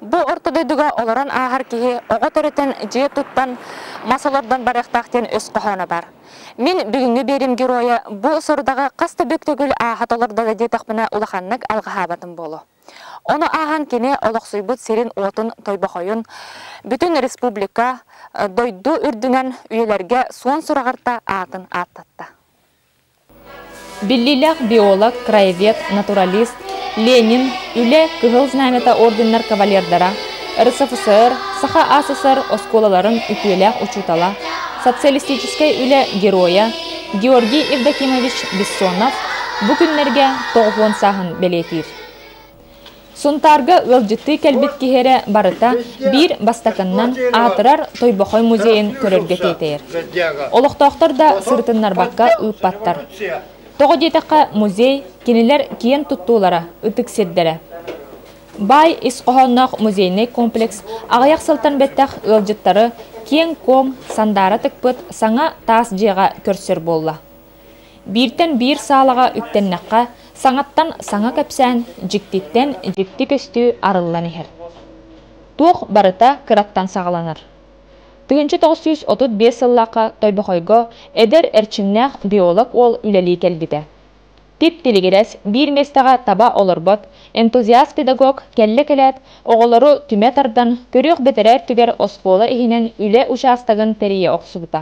Бу орто дойдуга олорон ааһар киһи оҕо төрөтөн, дьиэ туттан, мас олордон барыахтаах диэн өс хоһооно бар. Мин бүгүҥҥү биэrim геройа бу сорудаҕы хас да бүк төгүл ааһа толордоҕо диэтэхпинэ улаханнык алҕаһаабатым буолуо. Ону ааһан кини олохсуйбут сирин-уотун тойбохойун, бүтүн республика, дойду үрдүнэн үйэлэргэ суон сураҕарта аатын ааттатта. Биллиилээх биолог, краевед, натуралист Ленин, Үлэ Кыһыл Знамята орденнар кавалердара, РСФСР, Саха СССР оскуолаларын үтүөлээх учуутала, социалистическай үлэ геройа Георгий Евдокимович Бессонов бу күннэргэ тоҕуһуон сааһын бэлиэтиир. Сунтаарга ыалдьыттыы кэлбит киһи эрэ барыта биир бастакыннан аатырар Тойбохой музейын көрөргө тиэтэйэр. Олохтоохтор да сырытыннарбакка ыыппаттар. Тоҕо диэтэххэ, музей кинилэр киэн туттуулара, ытык сирдэрэ. Баай ис хоһоонноох музейнай комплекс аҕыйах сылтан бэттэх ыалдьыттары киэҥ-куоҥ, сандаара тыкпыт саҥа таас дьиэҕэ көрсөр буолла. Бииртэн биир саалаҕа үктэннэххэ, саҥаттан саҥа кэпсээн дьиктиттэн дьикти көстүү арыллан иһэр. Туох барыта кыраттан саҕаланар. Тыһыынча тоҕус сүүс отут биэс сыллаахха Тойбохойго эдэр эрчимнээх биолог уол үлэлии кэлбитэ. Тип-тилигирэс биир миэстэҕэ таба олорбот энтузиаст-педагог кэллэ-кэлээт оҕолору түмэ тардан көрүөх бэтэрээ өттүгэр оскуола иһинэн үлэ учаастагын тэрийэ охсубута.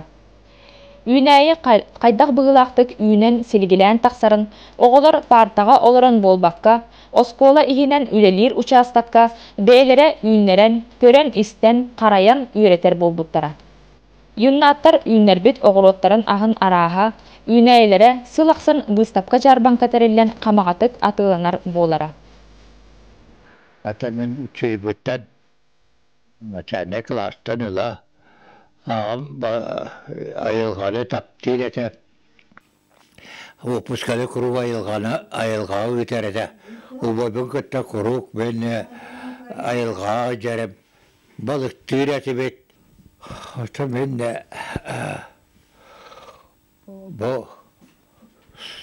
Үүнээйи хайдах быһыылаахтык үүнэн, силигилээн тахсарын, оҕолор паартаҕа олорон буолбакка, оскуола иһинэн үлэлиир учаастакка бэйэлэрэ үүннэрэн, көрөн-истэн, харайан үөрэтэр буолбуттара. Юннаттар үүннэрбит оҕуруоттарын аһын арааһа, үүнээйилэрэ сыл ахсын быыстапка-дьаарбаҥка тэриллэн хамаҕатык атыыланар буолара. Ата мин учуйбутан Начальнай кылаастан ыла аҕам айылҕаны таптыыр этэ, выпусканы куруук айылҕаны айылҕаҕа ыытар этэ. Убайбын кытта куруук мин айылҕаҕа дьэрим балыктыыр этибит. Мин Бу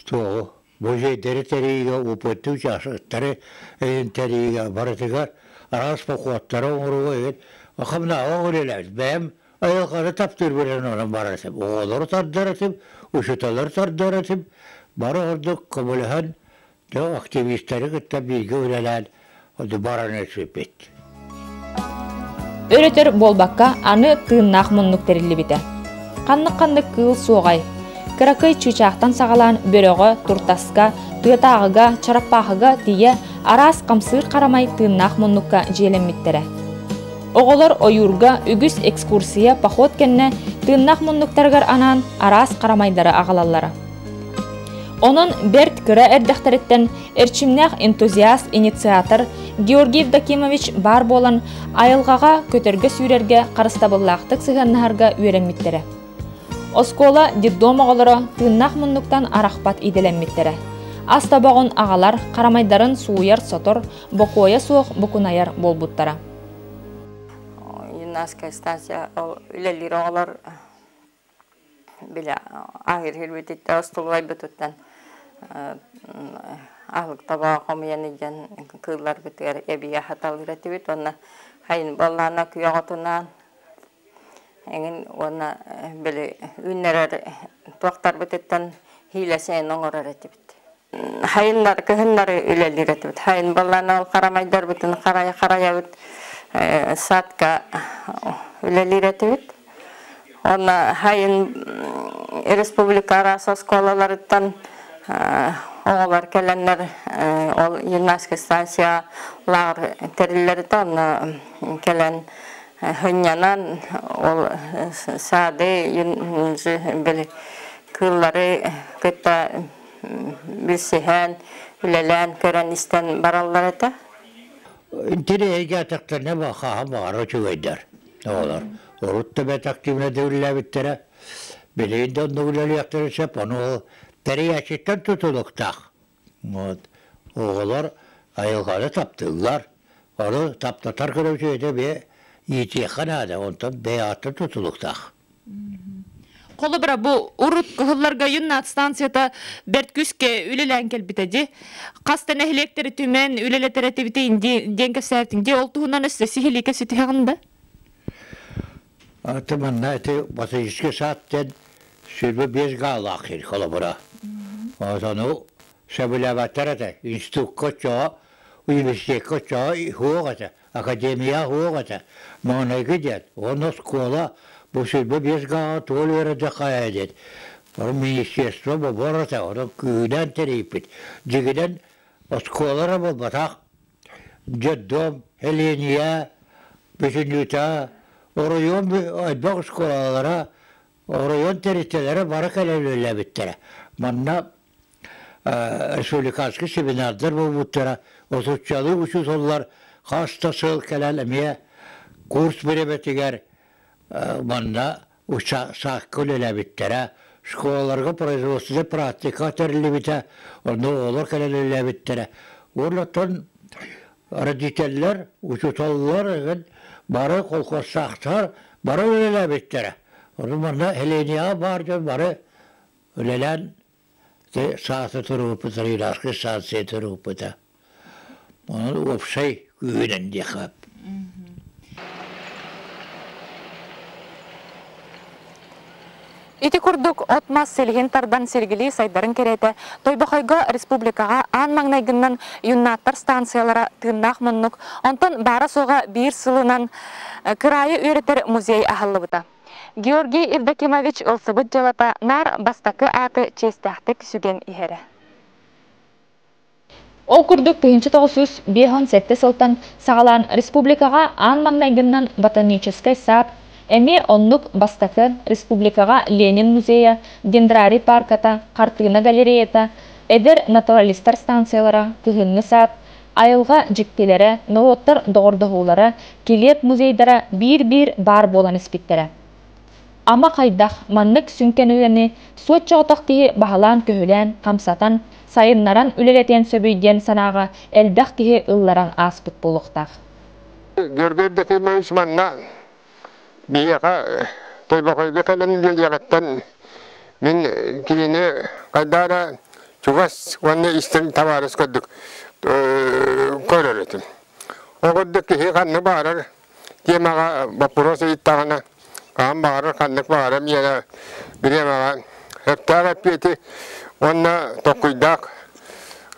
туоҕу бу дьиэдэри тэрийиигэ уопуттуу учаастактары тэрийиигэ барытыгар араас бокуоттары оҥорууга эбит хамнаҕа үлэлээбит бэйэм айылҕаны таптыырбынан онон барар этим оҕолору тардар этим учууталлары тардар этим бары ордук көмөлөһөн Дьон активистары кытта бииргэ үлэлээн бараны сыппыт. Өрөтөр буолбакка, аны тыыннаах муннук тэриллибитэ. Ханнык-ханнык кыыл суоҕай. Кыракый чыычаахтан саҕалаан бөрөҕө, туртаска, тыатааҕыга, чараппаахыга тиийэ араас хамсыыр харамай тыыннаах муннукка дьиэлэммиттэрэ. Оҕолор ойуурга үгүс экскурсия, поход кэннэ тыыннаах муннуктарыгар анаан араас харамайдары аҕалаллара. Онон бэрт кыра эрдэхтэриттэн эрчимнээх энтузиаст, инициатор Георгий Евдокимович баар буолан айылҕаҕа көтөргө сүүрэргэ харыстабыллаахтык сыһыаннаһарга үөрэммиттэрэ. Оскуола детдом оҕолоро тыыннаах муннуктан арахпат идэлэммиттэрэ. Ас тобоҕун аҕалар харамайдарын сууйар-сотор, бокуойа суох букунайар буолбуттара. Юнайская статья үлэлиир оҕолор Били ааһыырбытиттэн остулуйбутуттан аһылыкталаах хомуйан илдьэн кыылларбытыгар эбии аһаталыыр этибит уонна хайын буоллаана күйэҕотунаан эҥин уонна били үүннэрэр туохтарбытыттан иилэсэйэн оҥорор этибит хайыннар кыһыннары үлэлиир этибит хайын балланал харамайдарбытын харайа харайабыт э, садка үлэлиир этибит онно хайын республика араас оскуолаларыттан э, оҕолор кэлэннэр э, ол гимнастика станция лаар тэриллэритэ онно кэлэн Һынньанан ол саады били кыыллары кытта билсиһэн, үлэлээн көрөн-истэн бараллар этэ. Тирэйигэ этэхтэринэ хаһа баара үчүгэйдэр оҕолор. Урут да бэт активно дьүүллээбиттэрэ. Били да онно үлэлиэхтэрэ сөп, ону тэрийээччиттэн тутулуктаах. Вот. Оҕолор айылҕаны таптыыллар. Аны таптатар гына үтүөтэ бэйэ иитиэххэ наада, онтон бэйэ аатта тутулуктаах. Холобура бу урут кыһылларга юннат станцията бэрт күскэ үлэлээн кэлбитэ дьи. Хаста нэһилиэктери түмэн үлэлэтэр этибити диэн кэпсээтин дии ол туһунан өссө сиһилиикэ ситиһэҕин да? Ты манна ити Батыйский сад диэн сүүрбэ биэс гаалаах киһи холобура. Сону сөбүлээбэттэр этэ. Институкка оччоҕо, университекка оччоҕо уһуох этэ, академия уһуох этэ. Маныгы диэн, уонна оскуола бу сүүрбэ биэс гааҕа туол үөрэтэ хайа диэн. Ол министерство бобор этэ, ону күүнэн тэрийпит. Дигинэн оскуолара буолбатах, детдом Эления бүтүнүүтэ оройуон ойбох оскуолалара оройуон тэрилтэлэрэ бара кэлэллэбиттэрэ манна республиканский семинардар буолбуттара отуччалыы учууталлар хас да сыл кэлэн эмиэ курс бириэмэтигэр манна учаастакка үлэлээбиттэрэ, школаларга производственнай практика тэриллибитэ, онно оҕолор кэлэн үлэлээбиттэрэ. Уонна родителлэр, учууталлар эген бары колхозсаахтар бары үлэлээбиттэрэ. Ону манна Heleniaҕа баар дьон бары үлэлээн Те саата турууппут Рейдарскай станция турууппута. Онон уопсай күүһүнэн диэххэп. Ити курдук от-мас силиһин тардан сиргилии сайдарын кэриэтэ Тойбохойго республикаҕа аан маҥнайгыннан юннаттар станциялара тыыннаах муннук, онтон баара-суоҕа биир сылынан кыраайы үөрэтэр музей аһыллыбыта. Георгий Евдокимович ылсыбыт дьыалата наар бастакы ааты чиэстээхтик сүгэн иһэрэ. Ол курдук тыһыынча тоҕус сүүс биэс уон сэттэ сылтан саҕалаан республикаҕа аан маҥнайгыннан ботаническай саад эмиэ оннук бастакы, республикаҕа Ленин музейа, Дендрари паарката, хартыына галереята, эдэр натуралистар станциялара, кыһыҥҥы саад, Айылҕа дьиктилэрэ, норуоттар доҕордоһуулара, килиэп музейдара биир-биир баар буолан испиттэрэ. Ама хайдах маннык сүҥкэн үлэни соччоҕотох киһи баһылаан-көһүлээн, хамсатан, сайыннаран үлэлэтиэн сөбүй диэн санааҕа элбэх киһи ылларан ааспыт буолуохтаах. Георгий Дмитриевич манна Биһиэхэ Тойбохойго кэлэн үөрүйэҕиттэн мин кинини хайдаа эрэ чугас уонна истиҥ табаарыс курдук көрөр этим. Ол курдук киһи ханна баарар тиэмэҕэ боппуруос ыйыттаҕына хаһан баҕарар ханнык баҕарар миэрэ бириэмэҕэ сөптөөх эппиэти уонна толкуйдаах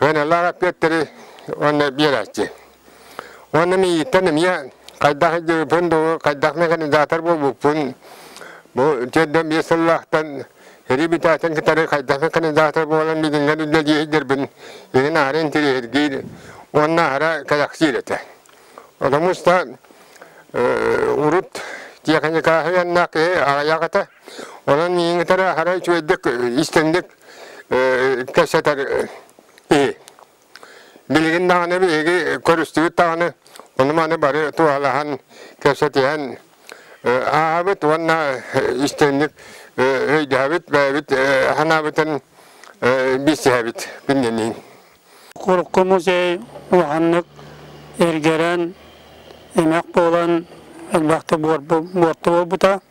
ыаналаах эппиэттэри уонна биэрээччи. Уонна мииттэн эмиэ хайдах дьыыпын да хайдах механизатор буолбуппун бу тиэрдэн биэс сыллаахтан реабилитациятын кытары хайдах механизатор буолан билиҥҥэн үлэлиэһиллэрбин иҥин аһара интириэһиргиир уонна аһара кэлэксиир этэ. Потому что урут техникааһы яннаах киһи аҕыйах этэ. Онон мииҥитэрэ аһара үчүгэйдик истинник кэпсэтэр киһи. Билигин даҕаны биһиги көрүстүбүт даҕаны, ону-маны бары туһалаһан, кэпсэтиһэн ааһабыт уонна истиҥник өйдөһөбүт, бэйэбит санаабытын билсиһэбит кининиин. Курукку музей улаханнык эргэрэн, эмэх буолан элбэхтик буорту буолбута.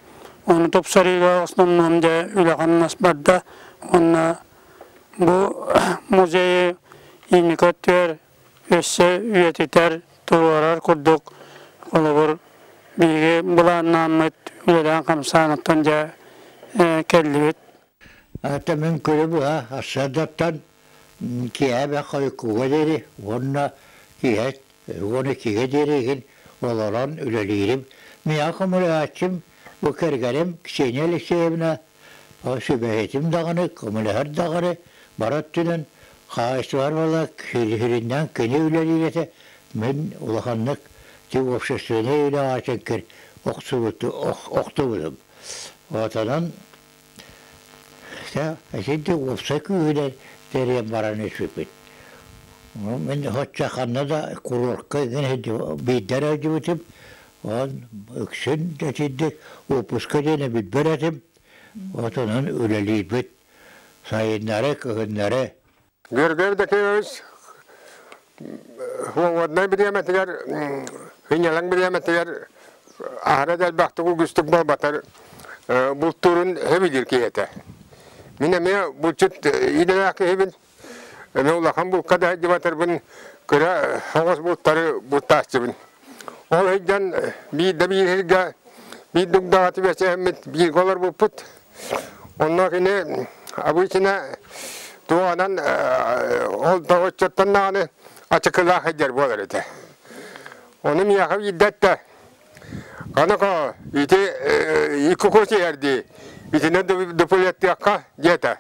Ону тупсарыыга основном дьэ үлэ-хамнас барда уонна Бу музейы инники өттүгэр өссө үйэтитэр, туруорар курдук, холобур, биһиги былааннааммыт үлэлээн-хамсааныттан дьэ кэллибит. Атамын күрү быһа ассадаттан киэһэ хойукууга диэри уонна киэһэ уон иккигэ диэри игин олорон үлэлиирим. Миэхэ хомуйааччым, бу кэргэним Ксения Алексеевна сүбэһитим даҕаны, көмөлөһөр даҕаны, бара өттүнэн хаһаайыстыбалара сириннээн кини үлэлиирэтэ мин улаханнык тиҥ общественнай үлэ аатыгар охсубут охтубутум. Отонон итинтик уопсай күүһүнэн тэрийэн баран испиппит. Мин хачча ханна да курортка гына биирдэ эрэ Оон ыксын итинник уоппуска диэни билбэр этим, отунан үлэлиирбит сайыннары, кыһыннары. Гөргөр Дакеевич Хуоводнай бириэмэтигэр, Хиньялаҥ бириэмэтигэр аһара дьарбахтык угустук буолбатар бултуурун хебигир киһи этэ. Мин эмиэ булчут идэлээх киһибин. Эми улахан булка да дьыбатырбын кыра хаҥас бултары бултааччыбын. Ол ыйдан биир да бииргэ биир дугдаҕаты бэчээммит бииргэ олор булпут. Онно кини обычно туоһанан ол да оччоттон даҕаны ачыкылаах эдэр буолар этэ. Ону миэхэ биирдэттэ аны ити икку куси эрди итини дуплеттыахха диэтэ.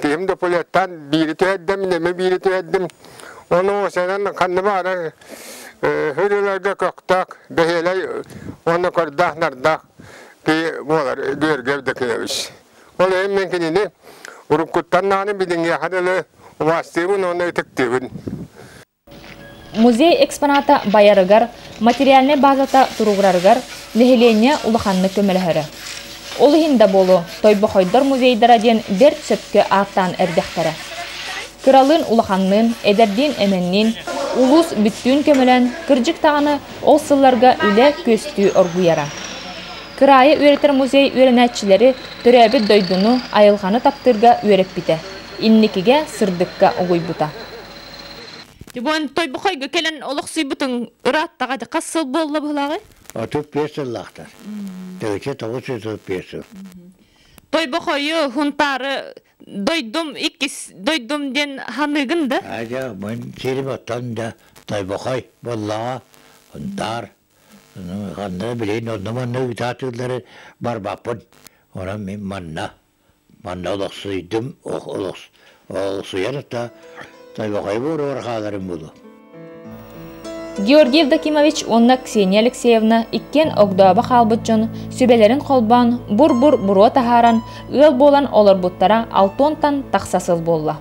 Киһим допулеттан биири түһэрдим, нэмэ биири түһэрдим. Ону сэнэн ханна баара хырыларга көхтөөх, бэһиэлэй уонна көрдөөх нардаах киһи буолар Дүөргөп Дакиевич. Ол эйин мен кинини уруккуттан нааны билиҥҥиэхэ дылы убаастыыбын уонна ытыктыыбын. Музей экспоната байарыгар, материальнай базата туругурарыгар нэһилиэнньэ улаханнык көмөлөһөрө. Ол иһин да буолуо, Тойбохойдор музейдара диэн бэрт сөпкө ааттаан эрдэхтэрэ. Кыралыын улаханныын, эдэрдиин-эмэнниин улуус бүттүүн көмөлөөн, кырдьык даҕаны ол сылларга үлэ күөстүү оргуйара. Кыраайы үөрэтэр музей үөрэнээччилэри төрөөбүт дойдуну, айылҕаны таптыырга үөрэппитэ, инникигэ сырдыкка угуйбута. Любовь тойбохойго кэлэн олохсуйбутуң ырааттаҕа хас сыл буолла быһылааҕы? Отут биэс сыллаахтар. Төрүччэ тоҕус жүз отут биэс сыл. Тойбохойу хунтаары дойдум иккис дойдум диэн ханыыгын да? Адя, мин сирим оттон да тойбохой буоллаҕа, хунтаар. Ну, ханна билин онно-манна ыытаатыыллары барбаппын. Онон мин манна Манна олохсуйдум, олохсуйар та тойбохой буоругар хааларын булу. Георгий Евдокимович уонна Ксения Алексеевна иккиэн огдооbo хаалбыт дьон сүбэлэрин холбоон бур-бур буруо таһааран ыал буолан олорбуттара алтуонтан тахса сыл буолла.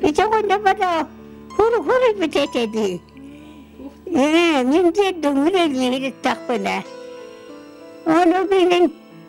Ити гонна бара хуру-хуру бүтетеди. Мен деддум үрелмегиттахпына. Ону билин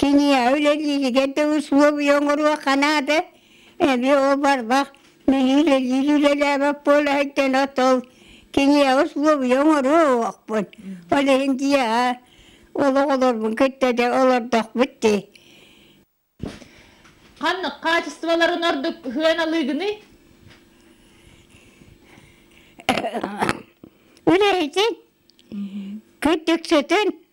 Киниэхэ үлэлииригэр да усулуобуйа оҥоруохха наада эмиэ ол барбах нэһиилэлиир үлэлээбэт буолаһыттан отол киниэхэ усулуобуйа оҥоруохпут ол иһин дьиэҕэ олоҕолорбун кытта да олордохпут дии Ханнык хаачыстыбаларын ордук сыһыан алыыгыный? үлэһитин кыттыксытын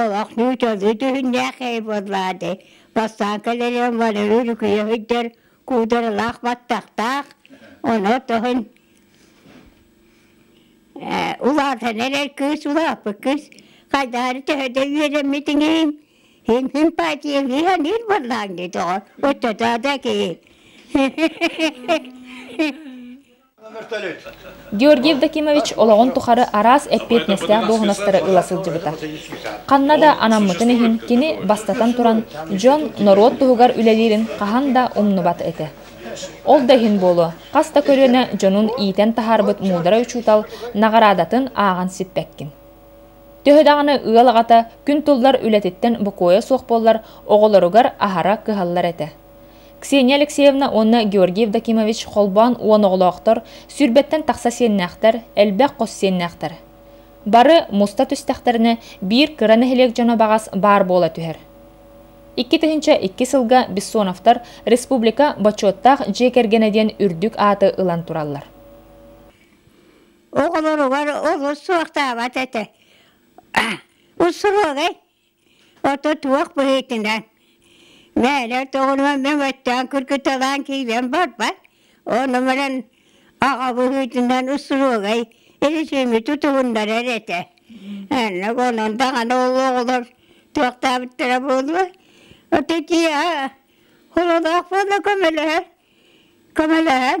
Олох нүүтэлли түһүннээх ээй буоллаа дии, бастаан кэлэрим барыы үлүкүйэ сылдьар куударалаах баттахтаах, ону тоһун э, улаатан эрэр кыыс, улааппыт кыыс, хайдаары төһө да үөрэммитиҥин, хин симпатиялыан ир буоллаан дийтоҕо, оттотоодо киһи. Георгий Евдокимович олоҕун тухары араас эппиэтинэстээх дуоһунастары ыла сылдьыбыта. Ханна да анаммытын иһин, кини, бастатан туран, дьон, норуот туһугар үлэлиирин хаһан да умнубат этэ. Ол да иһин буолуо, хас да көлүөнэ дьонун иитэн таһаарбыт муударай учуутал наҕараадатын ааҕан сиппэккин. Төһө даҕаны ыал аҕата күн туллар үлэтиттэн бокуойа суох буоллар, оҕолоругар аһара кыһаллар этэ. Ксения Алексеевна уонна Георгий Евдокимович холбоон уон оҕолоохтор сүүрбэттэн тахса сиэннээхтэр, элбэх хос сиэннээхтэр. Бары муста түстэхтэринэ биир кыра нэһилиэк дьоно баҕас баар буола түһэр. Икки тыһыынча икки сылга Бессоновтар республика бочуоттаах дьиэ кэргэнэ диэн үрдүк ааты ылан тураллар. Оҕолоругар олус суохтаабат этэ. Усуруогай Ото туох быһыытынан мээлэр тоҕунуон мен өттөөн кыргыталаан киирэн барбат, ол номерин аҕа быһыытынан устуруогай илисиими тутуһуннарар этэ. Эннэ онон даҕаны ол оҕолор туохтаабыттара буолуо. Ото тииһэ хололоох буола көмөлөһөр, көмөлөһөн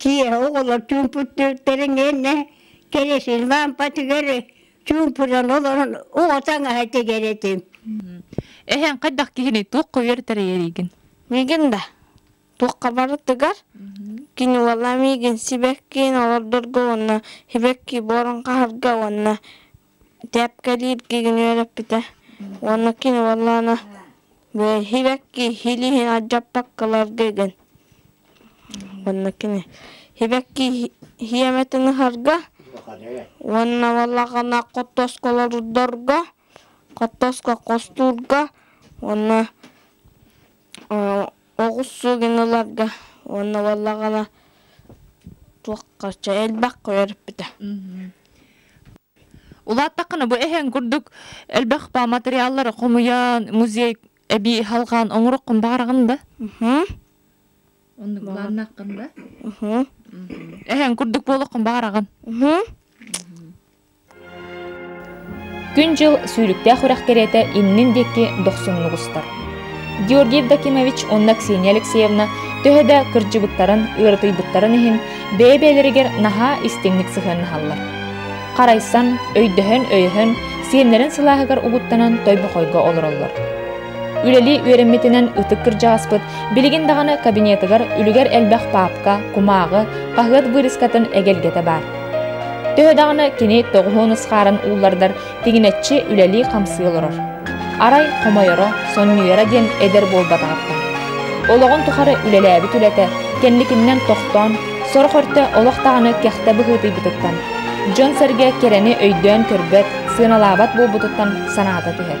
Киэһэ оҕолор чуумпутуктарын иннэ кэлэсин лампатыгар чуумпунан олорон оҕо таҥаһа тигэр этим. Эһэҥ хайдах киһини туох хойор тэрийэригин? Мигин да туохха барытыгар кини уола мигин сибэккиин олордорго уонна сибэкки буорун хаһарга уонна Тээпкэлииргэ игин үөрэппитэ уонна кини уоллаана «Сибэкки илииһин алдьаппаккаларга» диэн уонна кини сибэкки сиэмэтин ыһарга уонна уоллаана хоттоско олордорго хоттоско хостуурга уонна Оҕус сылын ыларга уонна уоллаҕына туохха чэ элбэх хойо эрпитэ Улааттаххына бу эһэҥ курдук элбэх ба материаллары хомуйан музей эбии халҕаан оҥороххун баҕараҕын да оннук бааннааххын да эһэҥ курдук буолуоххун баҕараҕын Күн-дьыл сүүрүктээх үрэх кэриэтэ иннин диэки дохсуннук устар. Георгий Евдокимович уонна Ксения Алексеевна төһө да кырдьыбыттарын, ыарытыйбыттарын иһин, бэйэ-бэйэлэригэр наһаа истиҥник сыһыаннаһаллар. Харайсан, өйдөһөн-өйөһөн, сиэннэрин сылааһыгар угуттанан тойбохойго олороллор. Үлэлии үөрэммитинэн ытык кырдьаҕаспыт билигин даҕаны кабинетыгар үлүгэр элбэх паапка, кумааҕы, хаһыат быырыскатын эгэлгэтэ баар. Төһө даҕаны кини тоҕуһун ысхааран ууллардар, тигинэччи үлэлии-хамсыы олорор. Арай хомойоро, сонньуйара диэн эдэр буолбатаҕыттан. Олоҕун тухары үлэлээбит үлэтэ кэнникиннэн тохтоон, сорох өртө олох даҕаны кэхтэ быһыытыйбытыттан, дьон-сэргэ кэрэни өйдөөн көрбөт, сыаналаабат буолбутуттан санаата түһэр.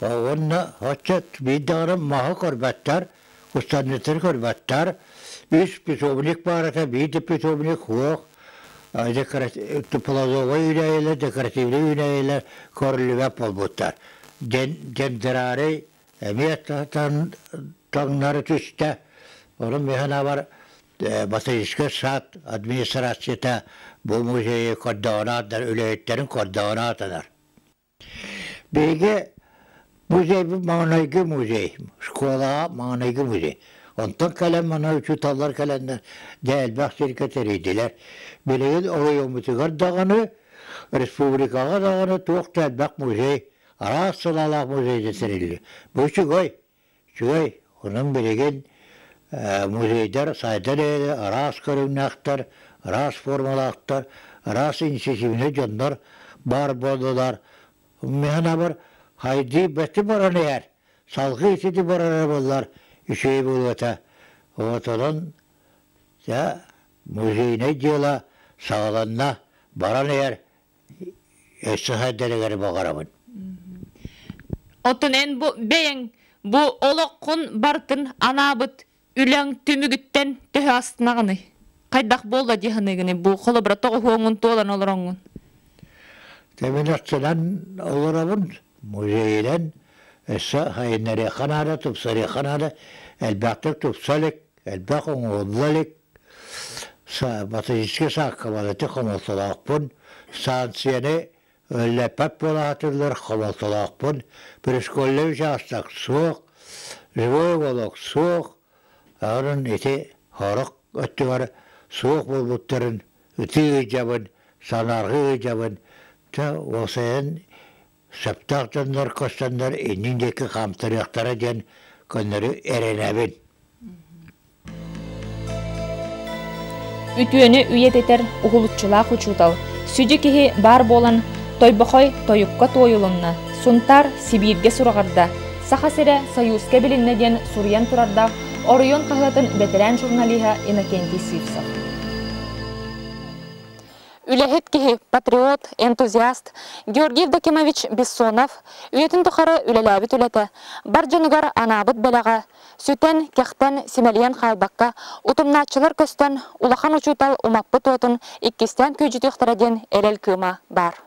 уонна оччо биирдэҕинэ маһы көрбөттөр, устанньыттары көрбөттөр, үс питомник баарата, биир питомник суох, тепловой үүнэйэлэр, декоративный үүнэйэлэр көрүлүбэт буолбуттар. Гендерарий эмиэ таҥнары түстэ. Онон миһанабар ботаническай сад администрацията бу музейы көрдөҕүн аатынан, үлэһиттерин көрдөҕүн аатынан. Бэйигэ музейбыт маҕанайгы музей, школаҕа маҕанайгы музей. Онтон кэлэн манан учууталлар кэлэннэр Дьээлбэх сиргэ тэрийдилэр. Билигин оройуоммутугар даҕаны, республикаҕа даҕаны туох да элбэх музей, араас сылалаах музей да тэриллибит. Бу үчүгэй. Үчүгэй, онон билигин музейдар сайдар эрээри араас көрүҥнээхтэр, араас формалаахтар, араас инициативнай дьоннор баар буоллулар. Мин санаабар, хайдыы бэти баран иһэр, салгыы итини барар буоллар үчүгэй буолуота. Вот онон музейнай дьыала саҕаланна, баран иһэр өссө сайдарыгар баҕарабын Оттон эн бу бэйэҥ бу олоххун барытын анаабыт үлэҥ түмүгүттэн төһө астынаҕыный? Хайдах буолла дии саныыгыный бу холобура тоҕуһуоҥҥун туолан олороҥҥун? Тэмэлэхтэнэн олоробун музейынан өссө сайыннарыахха наада тупсарыахха наада элбэхтик тупса илик элбэх оҥоһулла илик Ботаническай сааккалар ити хомолтолоохпун, станцияны үлэлэппэт буолаатыллар, хомолтолоохпун, предшкольнай учаастак суох, живой уголок суох, онон ити сорох өттүгэр суох буолбуттарын ытыы ыйдьабын, санаарҕыы ыйдьабын, дьэ ол сайын Сөптөөх дьоннор көстөннөр иннин диэки хаамтарыахтара диэн көннөрү эрэнэбин. Үтүөнү үйэтитэр уһулуччулаах учуутал, сүдү киһи баар буолан, Тойбохой тойукка туойулунна, Сунтаар Сибииргэ сураҕарда, Саха сирэ Союзка билиннэ диэн суруйан турардаах оройуон хаһыатын бэтэрээн журналиһа Иннокентий Сивцев. Үлэһит киһи, патриот, энтузиаст Георгий Евдокимович Бессонов үйэтин тухары үлэлээбит үлэтэ, бар дьонугар анаабыт бэлэҕэ, сүтэн, кэхтэн, симэлийэн хаалбакка, утумнааччылар көстөн, улахан учуутал умаппыт уотун иккистээн күөдьүтүөхтэрэ диэн эрэл кыыма баар.